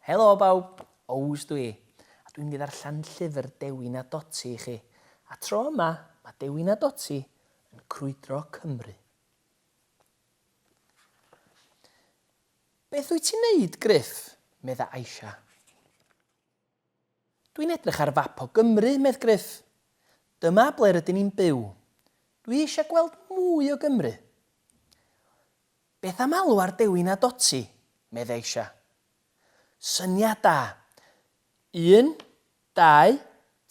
Helo bawb, Ows dwi, a dwi'n mynd i ddarllen llyfr Dewi na Doti i chi. A tro yma, mae Dewi na Doti yn crwydro Cymru. Beth wyt ti'n neud, Griff? medda Aisha. Dwi'n edrych ar fap o Gymru, medd Gruff. Dyma ble rydyn ni'n byw. Dwi eisiau gweld mwy o Gymru. Beth am alw ar Dewi na Dotty? medd Aisha. Syniad da! Un, dau,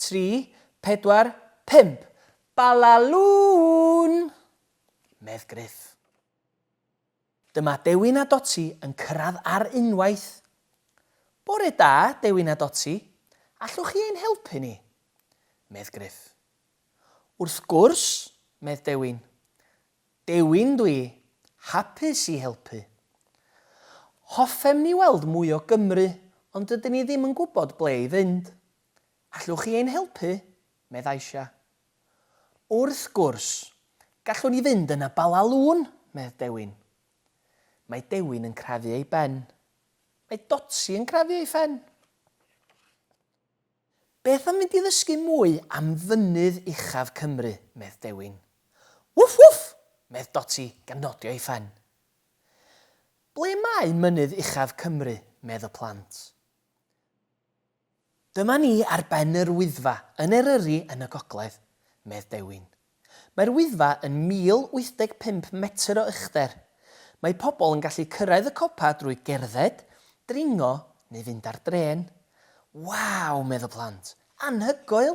tri, pedwar, pump! Balalŵn! medd Gruff. Dyma Dewin a Doti yn cyrraedd ar unwaith. Bore da, Dewin a Doti, allwch chi ein helpu ni? medd Gruff. Wrth gwrs, medd Dewin. Dewin dw i, hapus i helpu. Hoffem ni weld mwy o Gymru ond dydyn ni ddim yn gwybod ble i fynd. Allwch chi ein helpu? medd Aisha. Wrth gwrs, gallwn i fynd yna Bala Lŵn, medd Dewin. Mae Dewin yn crafu ei ben. Mae Dotsi yn crafu ei phen. Beth am fynd i ddysgu mwy am fynydd uchaf Cymru, medd Dewin. Wff wff! medd Dotsi gan nodio ei phen. Ble mae mynydd uchaf Cymru, medd y plant. Dyma ni ar ben yr Wyddfa yn Eryri yn y gogledd, medd Dewin. Mae'r Wyddfa yn 1,085 metr o uchder. Mae pobl yn gallu cyrraedd y copa drwy gerdded, dringo neu fynd ar drên. Waw, medd y plant. Anhygoel!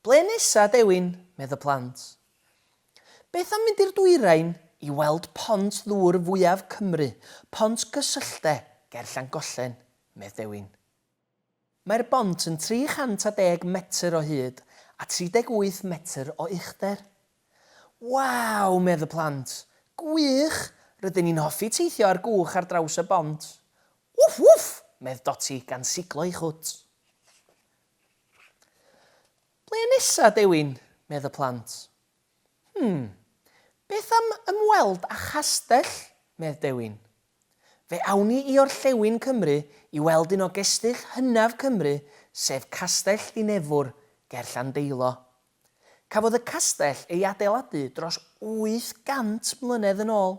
Ble nesa, Dewin? medd y plant. Beth am mynd i'r dwyrain i weld pont ddŵr fwyaf Cymru, Pont Gysylltde, ger Llangollen? medd Dewin. Mae'r bont yn 310 metr o hyd a 38 metr o uchder. Waw! medd y plant. Gwych! Rydyn ni'n hoffi teithio ar gwch ar draws y bont. Wff wff! medd Doti gan siglo ei chwt. Ble nesa, Dewin? medd y plant. Hm, beth am ymweld â chastell? medd Dewin. Fe awn ni i orllewin Cymru i weld un o gestyll hynaf Cymru sef Castell Ddinefwr ger Llandeilo. Cafodd y castell ei adeiladu dros 800 mlynedd yn ôl.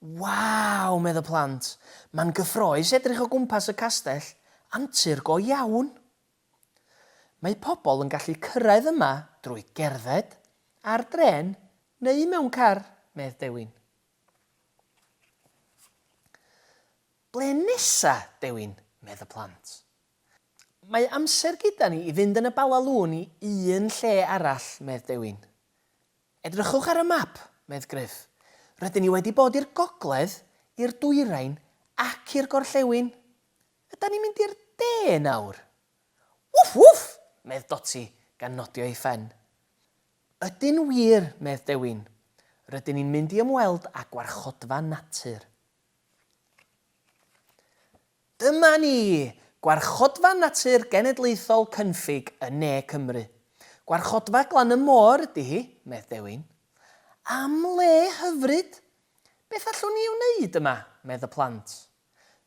Waw! medd y plant. Mae'n gyffroes edrych o gwmpas y castell, antur go iawn! Mae pobl yn gallu cyrraedd yma drwy gerdded, ar drên neu mewn car, medd Dewin. Ble nesa, Dewin? medd y plant. Mae amser gyda ni i fynd yn y Bala Lŵn i un lle arall, medd Dewin. Edrychwch ar y map, medd Gruff. Rydyn ni wedi bod i'r gogledd, i'r dwyrain ac i'r gorllewin. Ydan ni'n mynd i'r de nawr? Wff, wff! medd Dotty, gan nodio ei phen. Ydyn wir, medd Dewin. Rydyn ni'n mynd i ymweld â gwarchodfa natur. Dyma ni! Gwarchodfa Natur Genedlaethol Cynffig yn ne Cymru. Gwarchodfa glan y môr ydy hi, medd Dewin. Am le hyfryd! Beth allwn ni ei wneud yma? medd y plant.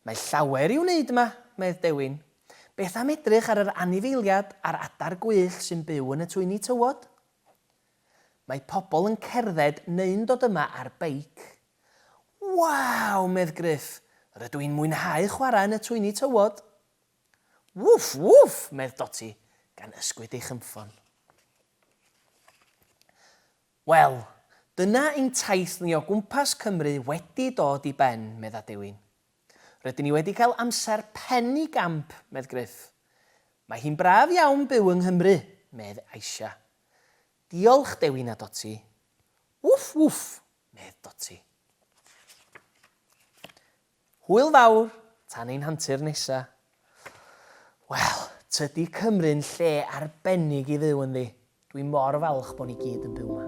Mae llawer i'w wneud yma, medd Dewin. Beth am edrych ar yr anifeiliad a'r adar gwyllt sy'n byw yn y twyni tywod? Mae pobl yn cerdded neu'n dod yma ar beic. Waw! medd Gruff, rydw i'n mwynhau chwarae yn y twyni tywod! Wwff! Wwff! medd Dotty, gan ysgwyd ei chynffon. Wel, dyna ein taith ni o gwmpas Cymru wedi dod i ben, medda Dewin. Rydyn ni wedi cael amser pen i gamp, medd Gruff. Mae hi'n braf iawn byw yng Nghymru, medd Aisha. Diolch, Dewi na Doti. Wff, wff, medd Doti. Hwyl fawr, tan ein hantur nesa. Wel, tydi Cymru'n lle arbennig i fyw ynddi. Dwi mor falch bo ni gyd yn byw 'ma.